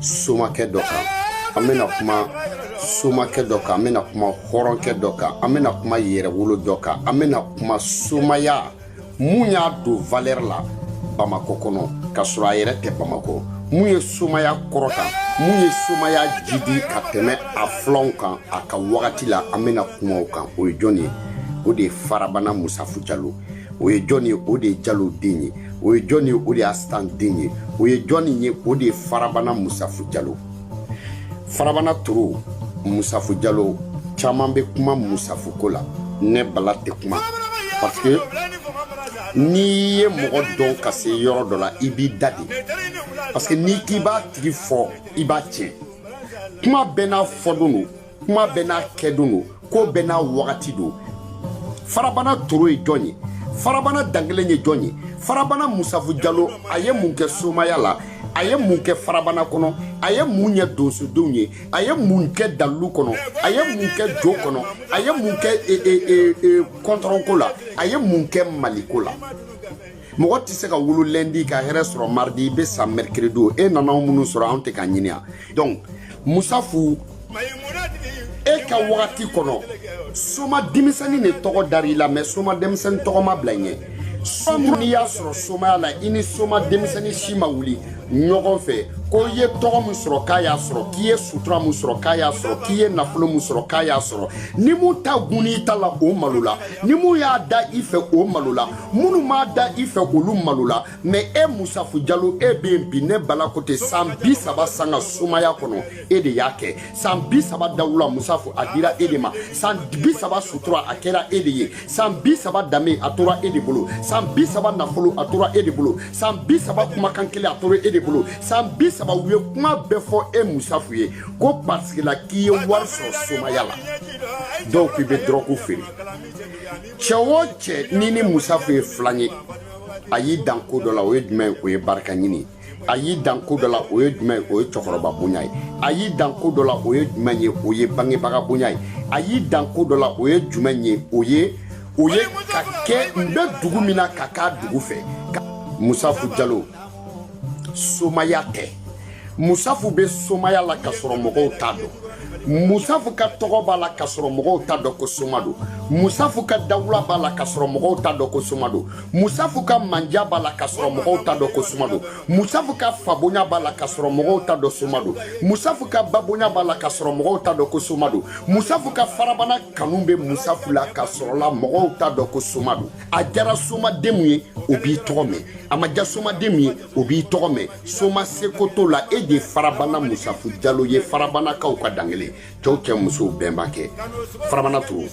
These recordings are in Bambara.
somakɛ dɔ kan an bɛna kuma somakɛ dɔ kan an bɛna kuma hɔrɔnkɛ dɔ kan an bɛna kuma yɛrɛwolo dɔ kan an bɛna kuma somaya mun y'a don valɛri la bamakɔ kɔnɔ ka sɔrɔ a yɛrɛ tɛ bamakɔ mun ye somaya kɔrɔta mun ye somaya jidi ka tɛmɛ a filanw kan a ka wagati la an bɛna kuma o kan o ye jɔn ye o de ye farabana musafu jalo o ye jɔn ye o de ye jalo den ye o ye jɔn ye o de ye asitan den ye o ye jɔn ye o de ye farabana musafu jalo farabana toro musafu jalo caman bɛ kuma musafu ko la ne bala tɛ kuma parce que n'i ye mɔgɔ dɔn ka se yɔrɔ dɔ la i b'i da de parce que n'i k'i b'a tigi fɔ i b'a tiɲɛ kuma bɛɛ n'a fɔdon don kuma bɛɛ n'a kɛdon don ko bɛɛ n'a wagati don farabana toro ye jɔn ye farabana dankelen ye jɔn ye farabana musafu jalo a ye mun kɛ somaya la a ye mun kɛ farabana kɔnɔ a ye mun ɲɛ donsodenw ye a ye mun kɛ dalilu kɔnɔ a ye mun kɛ jo kɔnɔ a ye mun kɛ kɔntɔrɔnko la a ye mun kɛ maliko la mɔgɔ tɛ se ka wolo lɛndi ka hɛrɛ sɔrɔ maridi i bɛ sa mɛrikiridi e nana minnu sɔrɔ anw tɛ ka ɲini yan donc musafu e ka wagati kɔnɔ soma denmisɛnnin de tɔgɔ dara i la mɛ soma denmisɛnnin tɔgɔ ma bila ɲɛ somu n'i y'a sɔrɔ somaya la i ni soma denmisɛnnin si ma wuli ɲɔgɔn fɛ ko i ye tɔgɔ min sɔrɔ k'a y'a sɔrɔ k'i ye sutura min sɔrɔ k'a y'a sɔrɔ k'i ye nafolo min sɔrɔ k'a y'a sɔrɔ ni mun ta gunni i ta la o malola ni mun y'a da i fɛ o malola minnu m'a da i fɛ k'olu malola mɛ e musafu jalo e bɛ yen bi ne bala ko ten san bi saba sanga somaya kɔnɔ e de y'a kɛ san bi saba dawula musafu a dira e de ma san bi saba sutura a kɛra e de ye san bi saba danbe a tora e de bolo san bi saba nafolo a tora e de bolo san bi saba kumakan kelen a tora e de bolo san bi saba u ye kuma bɛɛ fɔ e musafu ye ko pariseke la k'i ye wari sɔrɔ somaya la dɔw k'i bɛ dɔrɔgu feere cɛ o cɛ n'i ni musafu ye filan ye a y'i dan ko dɔ la o ye jumɛn ye o ye barika ɲini ye a y'i dan ko dɔ la o ye jumɛn ye o ye cɛkɔrɔba bonya ye a y'i dan ko dɔ la o ye jumɛn ye o ye bangebaga bonya ye a y'i dan ko dɔ la o ye jumɛn ye o ye o ye ka kɛ n bɛ dugu min na ka k'a dugu fɛ musafu jalo somaya tɛ musafu bɛ somaya la ka sɔrɔ mɔgɔw t'a dɔn musafu ka tɔgɔ b'a la ka sɔrɔ mɔgɔw t'a dɔn ko soma don musafu ka dawula b'a la ka sɔrɔ mɔgɔw t'a dɔn ko soma don musafu ka manja b'a la ka sɔrɔ mɔgɔw t'a dɔn ko soma don musafu ka fabonya b'a la ka sɔrɔ mɔgɔw t'a dɔn soma don musafu ka babonya b'a la ka sɔrɔ mɔgɔw t'a dɔn ko soma don musafu ka farabana kanu bɛ musafu la ka sɔrɔla mɔgɔw t'a dɔn ko soma don a jara somaden min ye o b'i tɔgɔ mɛn a ma ja somaden min ye o b'i tɔgɔ mɛn soma seko t'o la e de ye farabana musafu jalo ye farabanakaw ka dankelen cɛw cɛ musow bɛnba kɛ farabana toro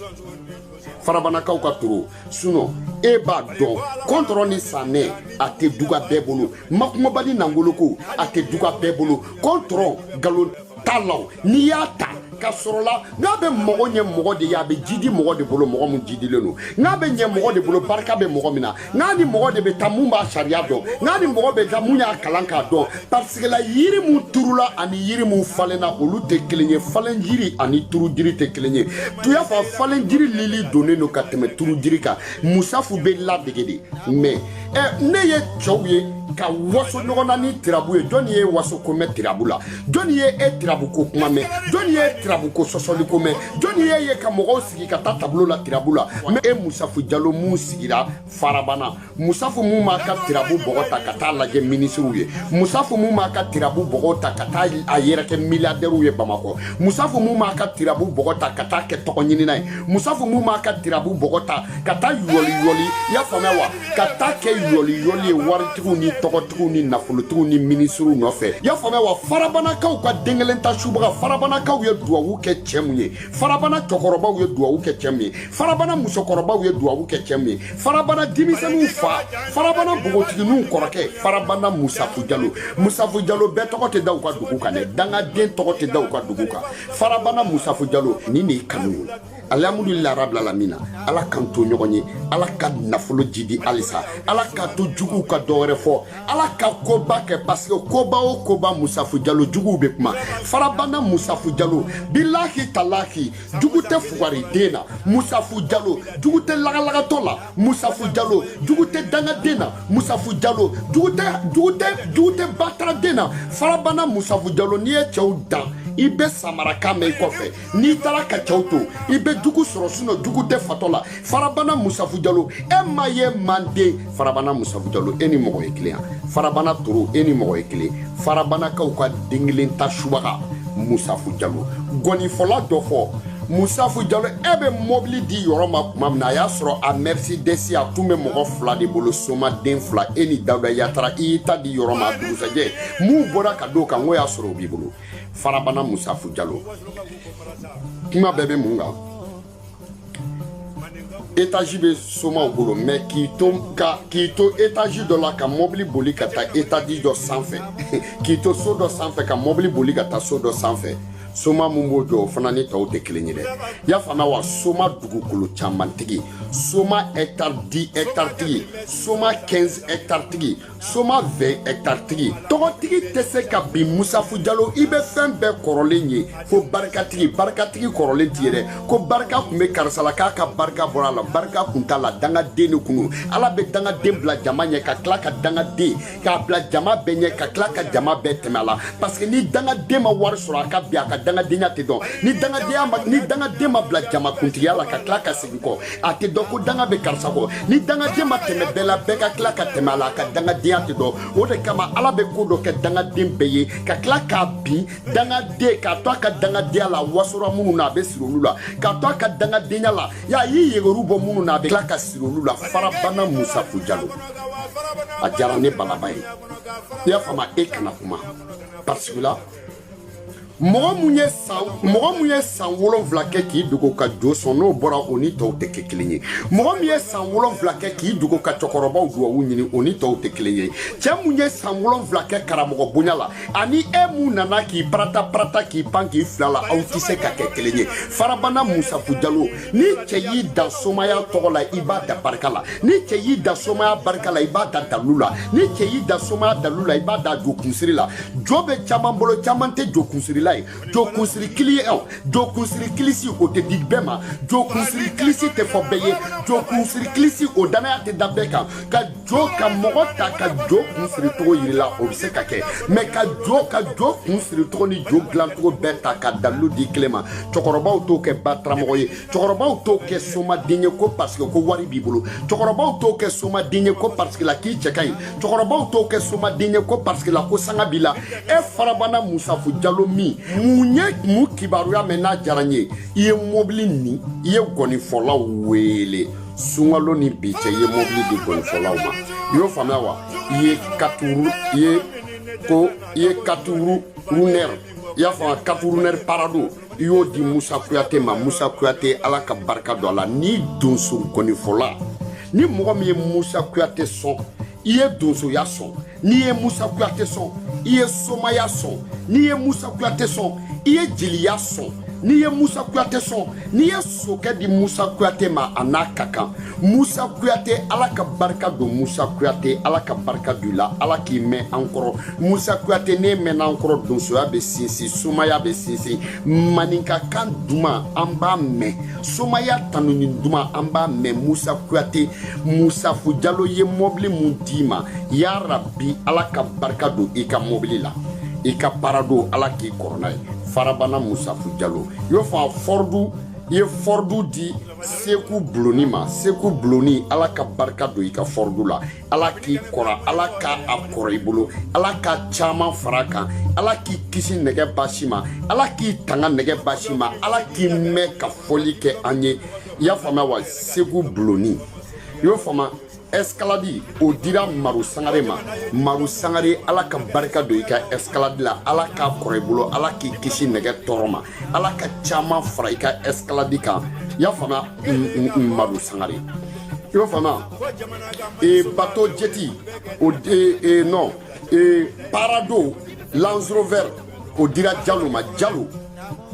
farabanakaw ka toro sinɔ e b'a dɔn kɔntɔrɔn ni sanɛ a tɛ duga bɛɛ bolo makungoba ni nangoloko a tɛ duga bɛɛ bolo kɔntɔrɔ nkalon ta la o n'i y'a ta ka sɔrɔla nka a bɛ mɔgɔ ɲɛ mɔgɔ de ye a bɛ jidi mɔgɔ de bolo mɔgɔ min jidilen don nka a bɛ ɲɛ mɔgɔ de bolo barika bɛ mɔgɔ min na nka a ni mɔgɔ de bɛ taa mun b'a sariya dɔn nka a ni mɔgɔ bɛ taa mun y'a kalan k'a dɔn parisike la yiri min turula ani yiri min falenna olu tɛ kelen ye falen jiri ani turu jiri tɛ kelen ye tuya fa falen jiri lili donnen don ka tɛmɛ turu jiri kan musafu bɛ ladege de mɛ ɛ ne ye cɛw ye ka waso ɲɔgɔn na ni tirabu ye jɔnni ye waso ko mɛn tirabu la jɔnni ye e tirabu ko kuma mɛn jɔnni ye tirabu ko sɔsɔli ko mɛn jɔnni ye ye ka mɔgɔw sigi ka taa tablo la tirabu la mɛ e musafu jalo mun sigira farabana musafu mun m'a ka tirabu bɔgɔ ta ka t'a lajɛ minisiriw ye musafu mun m'a ka tirabu bɔgɔ ta ka taa a yɛrɛ kɛ miliyadɛriw ye bamakɔ musafu mun m'a ka tirabu bɔgɔ ta ka taa kɛ tɔgɔɲinina ye musafu mun m'a ka tirabu bɔgɔ ta ka taa yɔliyɔli i y'a faamuya wa ka taa kɛ yɔliyɔli ye waritigiw ni tɔgɔtigiw ni nafolotigiw ni minisiriw nɔfɛ y'a faamuya wa farabanakaw ka den kelen ta subaga farabanakaw ye duwawu kɛ cɛ mun ye farabana cɛkɔrɔbaw ye duwawu kɛ cɛ mun ye farabana musokɔrɔbaw ye duwawu kɛ cɛ mun ye farabana denmisɛnninw fa farabana bogotigininw kɔrɔkɛ farabana musafu jalo musafu jalo bɛɛ tɔgɔ tɛ da u ka dugu kan dɛ dangaden tɔgɔ tɛ da u ka dugu kan farabana musafu jalo nin de ye kanu ye alihamudulila rabilalamina ala k'an to ɲɔgɔn ye ala ka nafolo jidi halisa ala k'a to juguw ka dɔ wɛrɛ fɔ ala ka koba kɛ pasike koba o koba musafu jalo juguw be kuma farabana musafu jalo bilahi talahi jugu tɛ fugari den na musafu jalo jugu tɛ lagalagatɔ la musafu jalo jugu tɛ dangaden na musafu jalo jugu tɛ jugu tɛ jugu tɛ bataraden na farabana musafu jalo n'i ye cɛw dan i bɛ samara kan mɛn i kɔfɛ n'i taara ka cɛw to i bɛ jugu sɔrɔ sinɔ jugu tɛ fatɔ la farabana musafu jalo e ma ye manden farabana musafu jalo e ni mɔgɔ ye kelen farabana toro e ni mɔgɔ ye kelen farabanakaw ka den kelen ta subaga musafu jalo ngɔnifɔla dɔ fɔ musafu jalo e bɛ mɔbili di yɔrɔ ma tuma min na a y'a sɔrɔ a mɛrisidɛsi a tun bɛ mɔgɔ fila de bolo somaden fila e ni dawuda yatara i y'i ta di yɔrɔ ma a dugusajɛ minnu bɔra ka d'o kan n k'o y'a sɔrɔ o b'i bolo farabana musafu jalo kuma bɛɛ bɛ mun kan etazi bɛ somaw bolo mɛ k'i to ka k'i to etazi dɔ la ka mɔbili boli ka taa etazi dɔ sanfɛ k'i to so dɔ sanfɛ ka mɔbili boli ka taa so dɔ sanfɛ soma mun b'o jɔ o fana ni tɔw tɛ kelen ye dɛ y'a faamuya wa soma dugukolo camantigi soma hɛkitari 10 hɛkitari tigi soma 15 hɛkitari tigi soma 20 hɛkitari tigi tɔgɔtigi tɛ se ka bin musafu jalo i bɛ fɛn bɛɛ kɔrɔlen ye fo barikatigi barikatigi kɔrɔlen tɛ ye dɛ ko barika tun bɛ karisa la k'a ka barika bɔra a la barika kun t'a la dangaden de kun don ala bɛ dangaden bila jama ɲɛ ka tila ka dangaden k'a bila jama bɛɛ ɲɛ ka tila ka jama bɛɛ tɛmɛ a la paseke ni dangaden ma wari sɔrɔ a ka bin a ka dangadenya tɛ dɔn ni dangadenya ma ni dangaden ma bila jama kuntigiya la ka tila ka segin kɔ a tɛ dɔn ko danga bɛ karisa kɔ ni dangaden ma tɛmɛ bɛɛ la bɛɛ ka tila ka tɛmɛ a la a ka dangadenya tɛ dɔn o de kama ala bɛ ko dɔ kɛ dangaden bɛɛ ye ka tila k'a bin dangaden k'a to a ka dangadenya la wasora minnu na a bɛ siri olu la k'a to a ka dangadenya la y'a y'i yegeru bɔ minnu na a bɛ tila ka siri olu la farabana musafu jalo a diyara ne balaba ye i y'a faamu e kana kuma parce que la mɔgɔ mun ye san mɔgɔ mun ye san wolonwula kɛ k'i dogo ka jo sɔn n'o bɔra o ni tɔw tɛ kɛ kelen ye mɔgɔ min ye san wolonwula kɛ k'i dogo ka cɛkɔrɔbaw duwawu ɲini o ni tɔw tɛ kelen ye cɛ mun ye san wolonwula kɛ karamɔgɔ bonya la ani e mun nana k'i parata parata k'i pan k'i fili a la aw tɛ se ka kɛ kelen ye farabana musafu jalo ni cɛ y'i dan somaya tɔgɔ la i b'a dan barika la ni cɛ y'i dan somaya barika la i b'a dan dalu la ni cɛ y'i dan somaya dalu la i b'a dan jo kunsiri la jo bɛ caman bolo caman tɛ jo kunsirila ye jo kunsiri kili ye jo kunsiri kilisi o tɛ di bɛɛ ma jo kunsiri kilisi tɛ fɔ bɛɛ ye jo kunsiri kilisi o dannaya tɛ da bɛɛ kan jo ka mɔgɔ ta ka jo kun siri cogo yir'i la o bɛ se ka kɛ mɛ ka jo ka jo kun siri cogo ni jo dilancogo bɛɛ ta ka dalilu di kelen ma cɛkɔrɔbaw t'o kɛ bataramɔgɔ ye cɛkɔrɔbaw t'o kɛ somaden ye ko paseke ko wari b'i bolo cɛkɔrɔbaw t'o kɛ somaden ye ko paseke la k'i cɛ ka ɲi cɛkɔrɔbaw t'o kɛ somaden ye ko paseke la ko sanga b'i la e farabana musafu jalo min mun ye mun kibaruya mɛn n'a diyara n ye i ye mɔbili nin i ye gɔnifɔlaw wele sunkalo ni bi cɛ i ye mɔbili di gɔnifɔlaw ma i y'o faamuya wa i ye katuru i ye ko i ye katuru runɛri i y'a faamuya katuru runɛri parado i y'o di musa kuyate ma musa kuyate ala ka barika don a la ni donso gɔnifɔla ni mɔgɔ min ye musa kuyate sɔn i ye donsoya sɔn n'i ye musa kuyate sɔn i ye somaya sɔn n'i ye musa kuyate sɔn i ye jeliya sɔn n'i ye musa kuyate sɔn n'i ye sokɛ di musa kuyate ma a n'a ka kan musa kuyate ala ka barika don musa kuyate ala ka barika don la ala k'i mɛn an kɔrɔ musa kuyate n'e mɛnna an kɔrɔ donsoya bɛ sinsin somaya bɛ sinsin maninka kan duman an b'a mɛn somaya tanuni duman an b'a mɛn musa kuyate musafu jalo ye mɔbili mun d'i ma y'a rabi ala ka barika don i ka mobili la i ka parado ala k'i kɔrɔ n'a ye farabana musafu jalo i y'o faamu fɔrdu i ye fɔrdu di seku buloni ma seku buloni ala ka barika don i ka fɔrdu la ala k'i kɔrɔ ala ka a kɔrɔ i bolo ala ka caman fara a kan ala k'i kisi nɛgɛ basi ma ala k'i tanga nɛgɛ basi ma ala k'i mɛn ka fɔli kɛ an ye i y'a faamuya wa seku buloni i y'o faamuya escalade o dira maru sangare ma maru sangare ala ka barika don i ka escalade la ala k'a kɔrɔ i bolo ala k'i kisi nɛgɛ tɔɔrɔ ma ala ka caman fara i ka escalade kan y'a faamuya maru sangare i y'a faamuya e bato jeti o e, e, non e, parado lanzrover o dira jalo ma jalo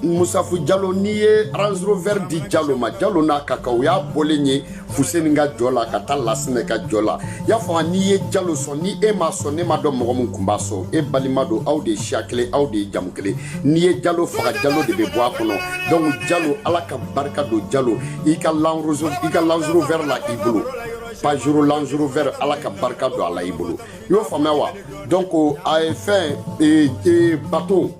Musafu Jalo n'i ye Range Rover di Jalo ma Jalo n'a ka kan o y'a bɔlen ye Fuseni ka jɔ la ka taa Lassinɛ ka jɔ la i y'a faamu n'i ye Jalo sɔn ni e m'a sɔn ne m'a dɔn mɔgɔ min tun b'a sɔn e balima don aw de ye siya kelen aw de ye jamu kelen n'i ye Jalo faga Jalo de bɛ bɔ a kɔnɔ donc Jalo Ala ka barika don Jalo i ka Land Rover i ka Range Rover la i bolo Pajero Range Rover Ala ka barika don a la i bolo i y'o faamuya wa donc a ye fɛn ee ee bateau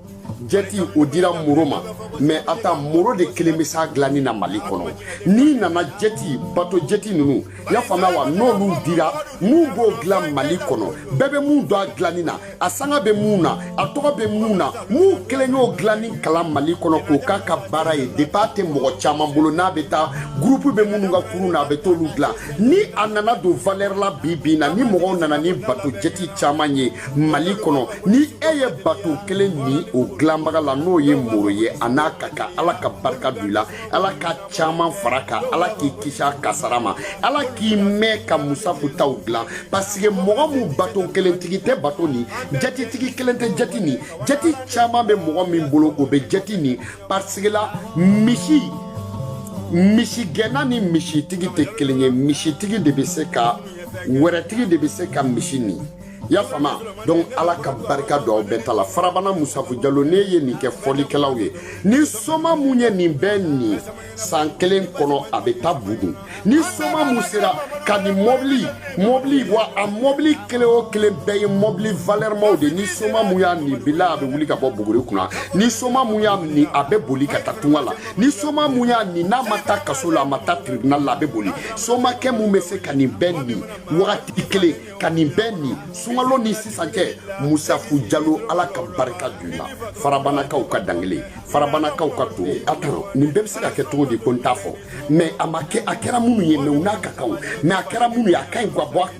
jɛti o dira moro ma mɛ a ta moro de kelen bɛ s'a dilanni na mali kɔnɔ n'i nana jɛti bato jɛti ninnu y'a faamuya wa n'olu dira mun b'o dilan mali kɔnɔ bɛɛ bɛ mun dɔn a dilanni na a sanga bɛ mun na a tɔgɔ bɛ mun na mun kelen y'o dilanni kalan mali kɔnɔ k'o k'a ka baara ye depi a tɛ mɔgɔ caman bolo n'a bɛ taa gurupu bɛ minnu ka kurun na a bɛ t'olu dilan ni a nana don valɛri la bi bi in na ni mɔgɔw nana ni bato jɛti caman ye mali kɔnɔ ni e ye bato kelen ni o dilanbaga la n'o ye moro ye a n'a ka kan ala ka barika don i la ala ka caman fara a kan ala k'i kisi a kasara ma ala k'i mɛn ka musafu taw dilan pasike mɔgɔ min bato kelentigi tɛ bato ni jatitigi kelen tɛ jati ni jati caman bɛ mɔgɔ min bolo o bɛ jati ni pasike la misi misigɛnna ni misitigi tɛ kelen ye misitigi de bɛ se ka wɛrɛtigi de bɛ se ka misi ni i y'a faamu donc ala ka barika don aw bɛɛ ta la farabana musafu jalo ne ye nin kɛ fɔlikɛlaw ye ni soma mun ye nin bɛɛ nin san kelen kɔnɔ a bɛ taa bugun ni soma mun sera ka nin mɔbili mɔbili wa a mɔbili kelen o kelen bɛɛ ye mɔbili valɛrɛmaw de ni soma mun y'a nin bila a bɛ wuli ka bɔ buguri kunna ni soma mun y'a nin a bɛ boli ka taa tunga la ni soma mun y'a nin n'a ma taa kaso la a ma taa tribunal la a bɛ boli somakɛ mun bɛ se ka nin bɛɛ nin wagati kelen ka nin bɛɛ nin sunkalo ni sisan cɛ musafu jalo ala ka barika don la farabanakaw ka dankelen farabanakaw ka don a tan nin bɛɛ bɛ se ka kɛ cogo di ko n t'a fɔ mɛ a ma kɛ a kɛra minnu ye mɛ u n'a ka kanw mɛ a kɛra minnu ye a ka ɲi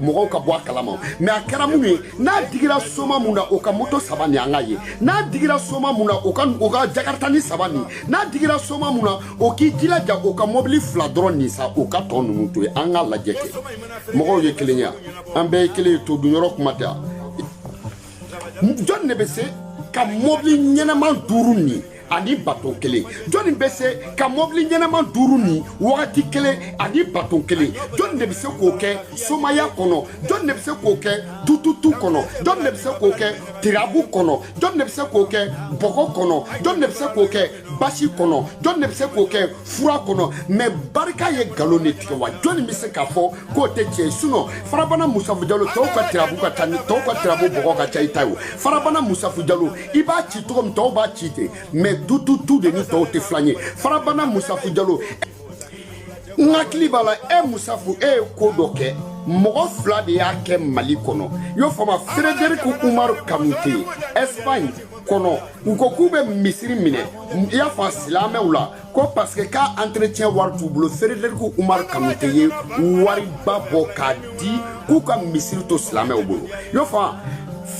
mɔgɔw ka bɔ a kalama mɛ a kɛra minnu ye n'a digira soma mun na o ka moto saba ni an ka ye n'a digira soma mun na o ka o ka jakartani saba ni n'a digira soma mun na o k'i jilaja o ka mɔbili fila dɔrɔn nin sa o ka tɔ ninnu to ye an ka lajɛ kɛ mɔgɔw ye kelen ya an bɛɛ ye kelen ye to dun yɔrɔ kuma tɛ jɔn de bɛ se ka mɔbili ɲɛnama duuru nin ani baton kelen jɔnni bɛ se ka mɔbili ɲɛnama duuru nin wagati kelen ani baton kelen jɔnni de bɛ se k'o kɛ somaya kɔnɔ jɔnni de bɛ se k'o kɛ tututu kɔnɔ jɔnni de bɛ se k'o kɛ tirabu kɔnɔ jɔnni de bɛ se k'o kɛ bɔgɔ kɔnɔ jɔnni de bɛ se k'o kɛ basi kɔnɔ jɔn de bɛ se k'o kɛ fura kɔnɔ mɛ barika ye nkalon de tigɛ wa jɔnni bɛ se k'a fɔ k'o tɛ tiɲɛ ye sinɔn farabana musafu jalo tɔw ka tirabu ka ca ni tɔw ka tirabu bɔgɔ ka ca i ta ye o farabana musafu jalo i b'a ci cogo min tɔw b'a ci ten mɛ tututu de ni tɔw tɛ filan ye farabana musafu jalo n hakili b'a la e musafu e ye ko dɔ kɛ mɔgɔ fila de y'a kɛ mali kɔnɔ y'o faamu frederiku umaru kanute espagne kɔnɔ u ko k'u bɛ misiri minɛ i y'a faamu silamɛw la ko parce que k'a entretien wari t'u bolo Frederic Umar Kanute ye wariba bɔ k'a di k'u ka misiri to silamɛw bolo i y'o faamu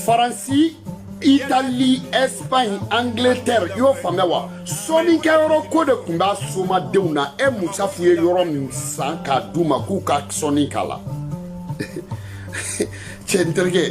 Faransi Italie, Espagne, Angleterre, i y'o faamuya wa sɔnnikɛyɔrɔ ko de tun b'a somadenw na e musafu ye yɔrɔ min san k'a d'u ma k'u ka sɔnni k'a la Cɛ n terikɛ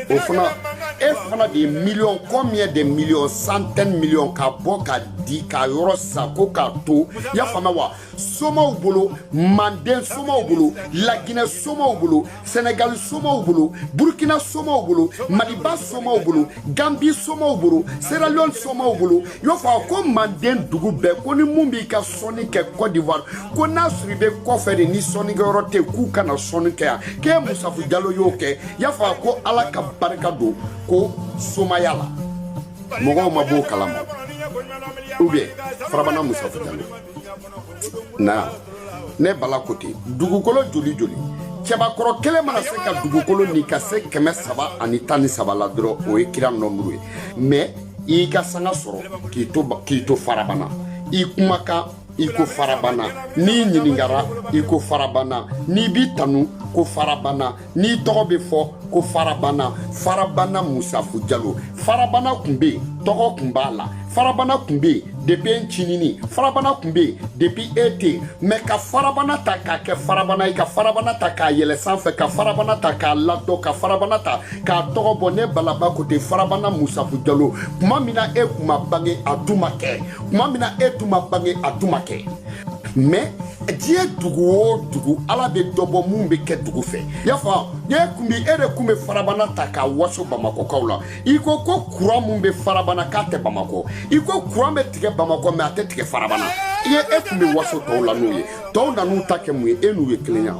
o fana e fana de ye million combien de million centaine million ka bɔ k'a di ka yɔrɔ san ko k'a to y'a faamu wa somaw bolo manden somaw bolo laginɛ somaw bolo sɛnɛgali somaw bolo burukina somaw bolo maliba somaw bolo ganbi somaw bolo seralion somaw bolo i b'a fɔ ko manden dugu bɛɛ ko ni mun b'i ka sɔnni kɛ cote d'ivoire ko n'a sɔrɔ i bɛ kɔfɛ de ni sɔnnikɛyɔrɔ tɛ k'u kana sɔnni kɛ yan k'e musafu jalo y'o kɛ i y'a fɔ ko ala ka barika don ko somaya la mɔgɔw ma b'o kalama ou bien farabana musafu jalo na ne bala ko ten dugukolo joli joli cɛbakɔrɔ kelen mana se ka dugukolo ni ka se kɛmɛ saba ani tan ni saba la dɔrɔn o ye kira nɔnburu ye mɛ i ka sanga sɔrɔ k'i to farabana i kumakan i ko farabana n'i ɲiningara i ko farabana n'i b'i tanu ko farabana n'i tɔgɔ bɛ fɔ ko farabana farabana musafu jalo farabana tun bɛ yen tɔgɔ tun b'a la farabana tun bɛ yen depi e cinini farabana tun bɛ yen depi e tɛ yen mɛ ka farabana ta k'a kɛ farabana ye ka farabana ta k'a yɛlɛ sanfɛ ka farabana ta k'a ladɔn ka farabana ta k'a tɔgɔ bɔ ne balaba ko ten farabana musafu jalo tuma min na e tun ma bange a tun ma kɛ tuma min na e tun ma bange a tun ma kɛ mɛ diɲɛ dugu o dugu ala bɛ dɔ bɔ min bɛ kɛ dugu fɛ y'a fɔ e tun bɛ e de tun bɛ farabana ta k'a waso bamakɔkaw la i ko ko kuran min bɛ farabana k'a tɛ bamakɔ i ko kuran bɛ tigɛ bamakɔ mɛ a tɛ tigɛ farabana i ye e tun bɛ waso tɔw la n'u ye tɔw nan'u ta kɛ mun ye e n'u ye kelenya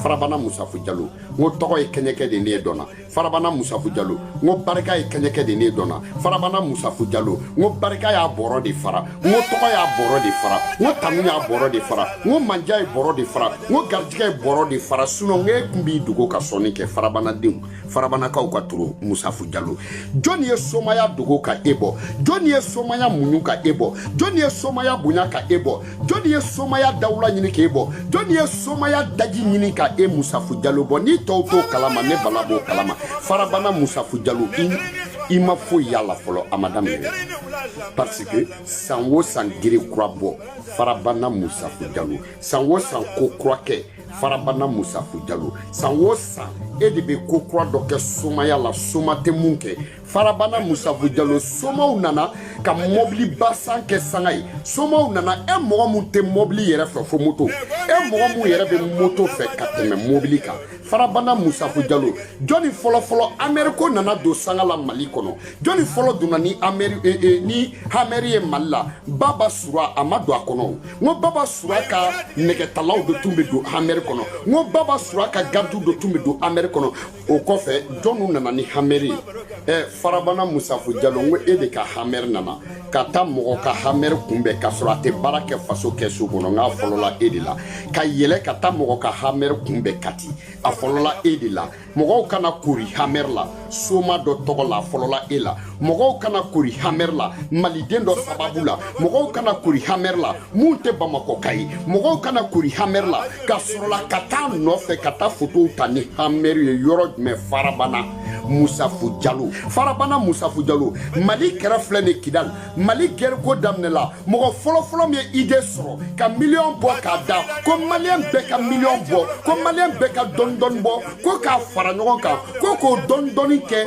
farabana musafu jalo n ko tɔgɔ ye kɛɲɛkɛ de ne ye dɔn na farabana musafu jalo n ko barika ye kɛɲɛkɛ de ne dɔnna farabana musafu jalo n ko barika y'a bɔrɔ de fara n ko tɔgɔ y'a bɔrɔ de fara n ko tanu y'a bɔrɔ de fara n ko mandiya ye bɔrɔ de fara n ko garijigɛ ye bɔrɔ de fara sinɔn e kun b'i dogo ka sɔnni kɛ farabanadenw farabanakaw ka toro musafu jalo jɔni ye somaya dogo ka e bɔ jɔni ye somaya muɲu ka e bɔ jɔni ye somaya bonya ka e bɔ jɔnni ye somaya dawula ɲini k'e bɔ jɔnni ye somaya daji ɲini ka e musafu jalo bɔ ni tɔw t'o kalama ne bala b'o kalama farabana musafu jalo i ma foyi y'a la fɔlɔ a ma daminɛ parce que san o san gere kura bɔ farabana musafu jalo san o san ko kura kɛ farabana musafu jalo san o san e de bɛ ko kura dɔ kɛ somaya la soma tɛ mun kɛ farabana musafu jalo somaw nana ka mɔbiliba san kɛ sanga ye somaw nana e mɔgɔ mun tɛ mɔbili yɛrɛ fɛ fo moto e mɔgɔ mun yɛrɛ bɛ moto fɛ ka tɛmɛ mɔbili kan farabana musafu jalo jɔni fɔlɔfɔlɔ hamɛri ko nana don sanga la mali kɔnɔ jɔni fɔlɔ donna ni hamɛri e, e, ni hamɛri ye mali la baba sora a ma don a kɔnɔ n ko baba sora ka nɛgɛtalaw de tun bɛ don hamɛri kɔnɔ n ko baba sora ka garidiw de tun bɛ don hamɛri kɔnɔ o kɔfɛ jɔnw nana ni hamɛri ye ɛ farabana musafu jalo n ko e de ka hamɛri nana ka taa mɔgɔ ka hamɛri kunbɛn ka sɔrɔ a tɛ baara kɛ faso kɛsu kɔnɔ n k'a fɔlɔla e de la ka yɛlɛ ka taa mɔgɔ ka hamɛri kunbɛn kati a fɔlɔla e de la mɔgɔw ka na kori hamɛri la soma dɔ tɔgɔ la a fɔlɔla e la mɔgɔw ka na kori hamɛri la maliden dɔ sababu la mɔgɔw ka na kori hamɛri la min tɛ bamakɔ ka ye mɔgɔw ka na koori hamɛri la ka sɔrɔla ka taa nɔfɛ ka taa fotow ta ni hamɛri ye yɔrɔ jumɛn farabana musafu jalo farabana musafu jalo mali kɛrɛ filɛ ni kidali mali kɛrɛko daminɛ la mɔgɔ fɔlɔfɔlɔ min ye idée sɔrɔ ka miliyɔn bɔ k'a da ko maliyɛn bɛɛ ka miliyɔn bɔ ko maliyɛn bɛɛ ka dɔɔnin dɔɔnin bɔ ko k'a fara ɲɔgɔn kan ko k'o dɔɔnin dɔɔnin kɛ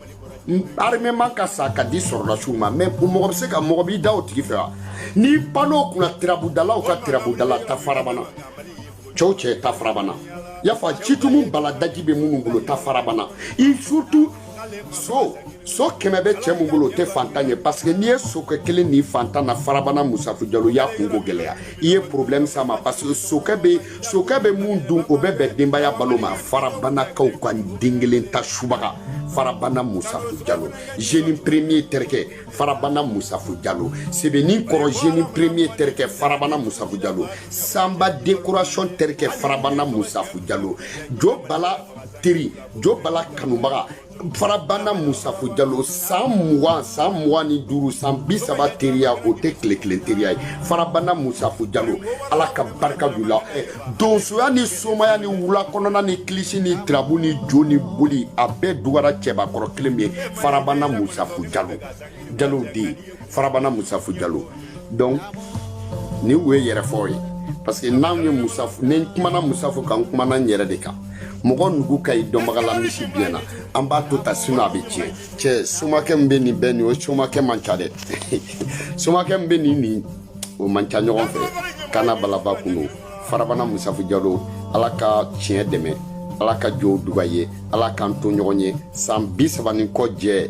armement ka san ka di sɔrɔlasiw ma mais o mɔgɔ bɛ se ka mɔgɔ b'i da o tigi fɛ wa n'i pan'o kunna tirabudalaw ka tirabudala taa farabana cɛw cɛ taa farabana yafa citumu baladaji bɛ minnu bolo taa farabana i surtout so so kɛmɛ bɛ cɛ min bolo o tɛ fantan ye parce que n'i ye sokɛ kelen ni fantan na farabana musafu jalo y'a kunko gɛlɛya i ye problème s'a ma parce que sokɛ bɛ sokɛ bɛ min dun o bɛ bɛn denbaya balo ma farabanakaw ka den kelen ta subaga farabana musafu jalo zeni premier terikɛ farabana musafu jalo sebenin kɔrɔ zeni premier terikɛ farabana musafu jalo sanba dekorasiyɔn terikɛ farabana musafu jalo jo bala teri jo bala kanubaga farabana musafu jalo san mugan san mugan ni duuru san bi saba teriya o tɛ tile kelen teriya ye farabana musafu jalo ala ka barika d'u la eh, donsoya ni somaya ni wula kɔnɔna ni kilisi ni tirabu ni jo ni boli a bɛɛ dugara cɛbakɔrɔ kelen min ye farabana musafu jalo jalow den farabana musafu jalo donc ninnu ye yɛrɛfɔ ye parce que n'anw ye musafu ni n kumana musafu kan n kumana n yɛrɛ de kan mɔgɔ nugu ka ɲi dɔnbaga la misi biɲɛ na an b'a to ta sinu a bɛ tiɲɛ cɛ somakɛ min bɛ nin bɛɛ nin o somakɛ man ca dɛ somakɛ min bɛ nin nin o man ca ɲɔgɔn fɛ kana balaba kun don farabana musafu jalo ala ka tiɲɛ dɛmɛ ala ka jow duga ye ala k'an to ɲɔgɔn ye san bi saba ni kɔ jɛ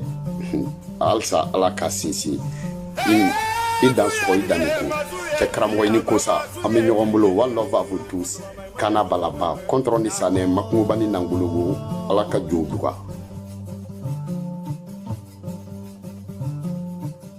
halisa ala ka sinsin i dan sɔgɔ i danni ko cɛ karamɔgɔ i ni kosa an bɛ ɲɔgɔn bolo one love à vous tous kana balaba kɔntɔrɔn ni sanɛ makungoba ni nangologo ala ka jow duga